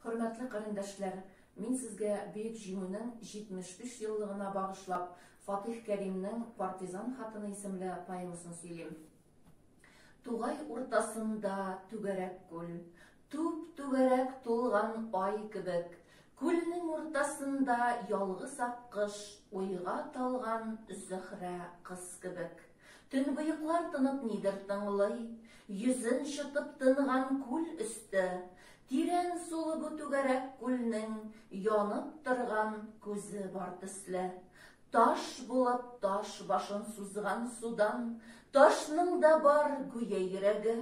Хөрмәтле карендәшләр, мин сезгә Бөек Җиңүнең 73 еллыгына багышлап Фатих Кәримнең Партизан хатыны исемле поэмасын сөйлим. Тугай уртасында түгәрәк күл, Түп-түгәрәк тулган ай кебек, Күлнең уртасында ялгыз аккош, Уйга талган Зөһрә кыз кебек. Төнбоеклар тынып нидер тыңлый, Йөзен чытып тынган күл өсте. Тирән сулы бу түгәрәк күлнең Янып торган күзе бар төсле. Таш булып таш башын сузган судан Ташның да бар, гүя йөрәге.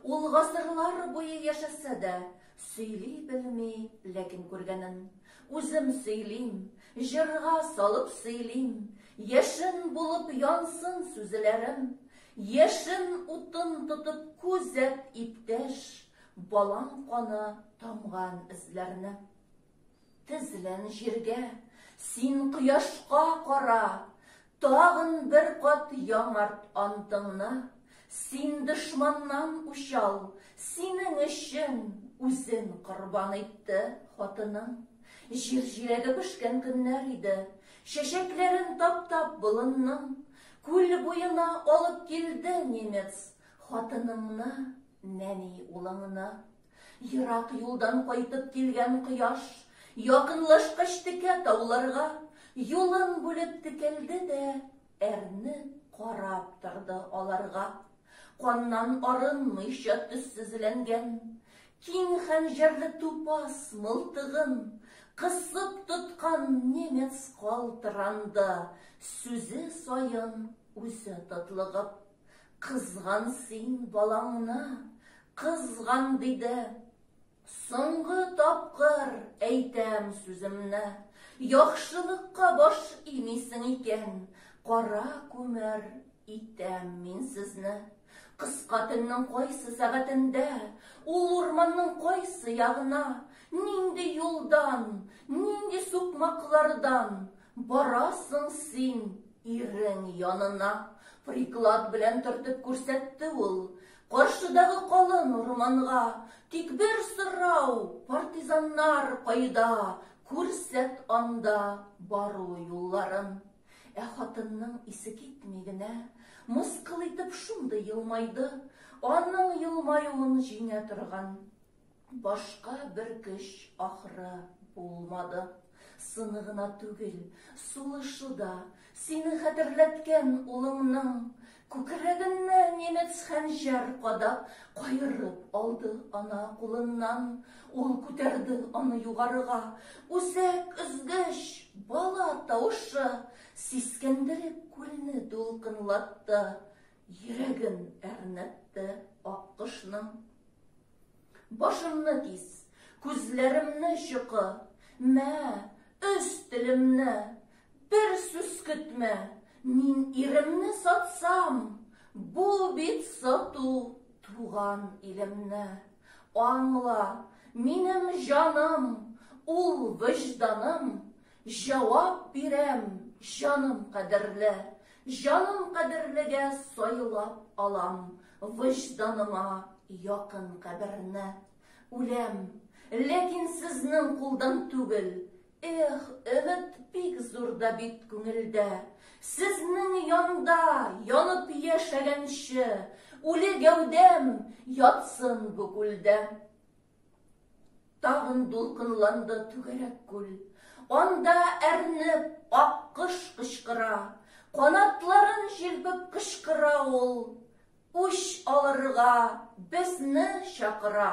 Ул гасырлар буе яшәсә дә, Сөйли белми, ләкин күргәнен. Үзем сөйлим, җырга салып сөйлим, Яшен булып янсын сүзеләрем, Яшен утын тотып күзәт, иптәш, Балаң каны тамган эзләрне. Тезлән җиргә, син кояшка кара, Тагын бер кат яңарт антыңны. Син дошманнан учал, синең өчен Үзен корбан итте хатының. Җир җиләге пешкән көннәр иде, Чәчәкләрен таптап болынның. Күл буена алып килде немец Хатыныңны, нәни улыңны. Ерак юлдан кайтып килгән кояш, якынлашкач текә тауларга, юлын бүлеп текәлде дә, әрне карап торды аларга. Каннан арынмыйча төссезләнгән, киң хәнҗәрле тупас мылтыгын кысып тоткан немец калтыранды, сүзе саен үзе тотлыгып. Кызган син балаңны, кызган, диде. Соңгы тапкыр әйтәм сүземне, Яхшылыкка баш имисең икән, Кара күмер итәм мин сезне. Кыска төннең кайсы сәгатендә, Ул урманның кайсы ягына, Нинди юлдан, нинди сукмаклардан, Барасың син ирең янына, приклад белән төртеп күрсәтте ул. Каршыдагы калын урманга, тик бер сорау, партизаннар кайда, күрсәт анда бару юлларын. Ә хатынның исе китми генә, мыскыл итеп шундый елмайды, аның елмаюын җиңә торган Башка бер көч, ахры, булмады. Сыны гына түгел, сулышы да, сине хәтерләткән улыңның. Күкрәгеннә немец хәнҗәр кадап, каерып алды ана кулыннан. Ул күтәрде аны югарыга. Үзәк өзгеч, бала тавышы, сискәндереп күлне дулкынлатты. Йөрәген әрнетте аккошның. Башымны кис, күзләремне чокы, мә, өз телемне, бер сүз көтмә, мин иремне сатсам, бу бит сату туган илемне. Аңла, минем җаным, ул вөҗданым, җавап бирәм, җаным кадерле, Җаным кадерлегә сайлап алам Вөҗданыма якын каберне. Үләм, ләкин сезнең кулдан түгел, Эх, өмет бик зур да бит күңелдә. Сезнең янда янып яшәгәнче, Үле гәүдәм ятсын бу күлдә. Тагын дулкынланды түгәрәк күл. Анда әрнеп, аккош кычкыра. Канатларын җилпеп кычкыра ул, Үч алырга безне чакыра.